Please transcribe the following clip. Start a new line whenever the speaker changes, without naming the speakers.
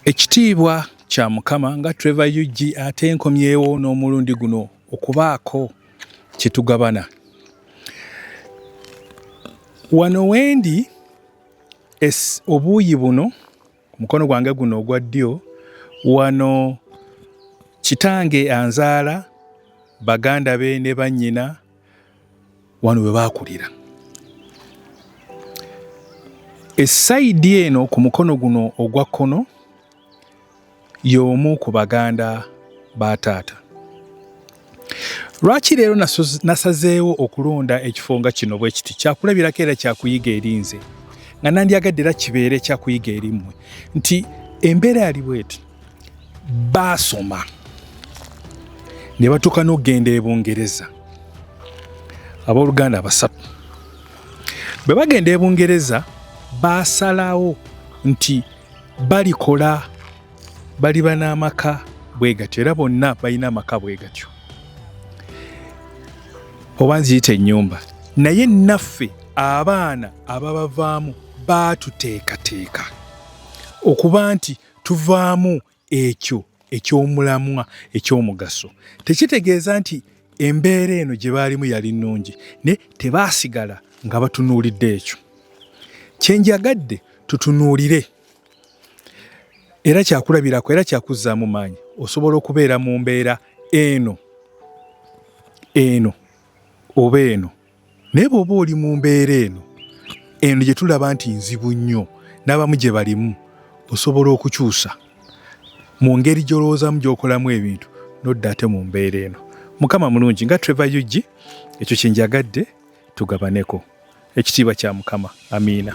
Ekitiibwa kya Mukama nga Trevor Ug ate nkomyewo n'omulundi guno okubaako kye tugabana. Wano wendi es obuuyi buno mukono gwange guno ogwa ddyo wano kitange anzaala baganda be ne bannyina wano we baakulira esayidi eno ku mukono guno ogwa kkono y'omu ku baganda ba taata lwaki leero nasazeewo okulonda ekifo nga kino bwe kiti kyakulabirako era kyakuyiga erinze nga nandyagadde era kibeere kyakuyiga eri mmwe nti embeera yali bweti baasoma ne batuuka n'okugenda e bungereza abooluganda abasatu bwe bagenda e bungereza baasalawo nti balikola baliba n'amaka bwe gatyo era bonna balina amaka bwe gatyo oba nziyita ennyumba naye naffe abaana ababavaamu baatuteekateeka okuba nti tuvaamu ekyo eky'omulamwa eky'omugaso tekitegeeza nti embeera eno gye baalimu yali nnungi naye tebaasigala nga batunuulidde ekyo kye njagadde tutunuulire era kyakulabirako era kyakuzzaamu maanyi osobola okubeera mu mbeera eno eno oba eno naye bw'oba oli mu mbeera eno eno gye tulaba nti nzibu nnyo n'abamu gye balimu osobola okukyusa mu ngeri gy'olowoozaamu gy'okolamu ebintu nodda ate mu mbeera eno mukama mulungi nga trevor ug ekyo kyenjagadde tugabaneko ekitiibwa kya mukama amiina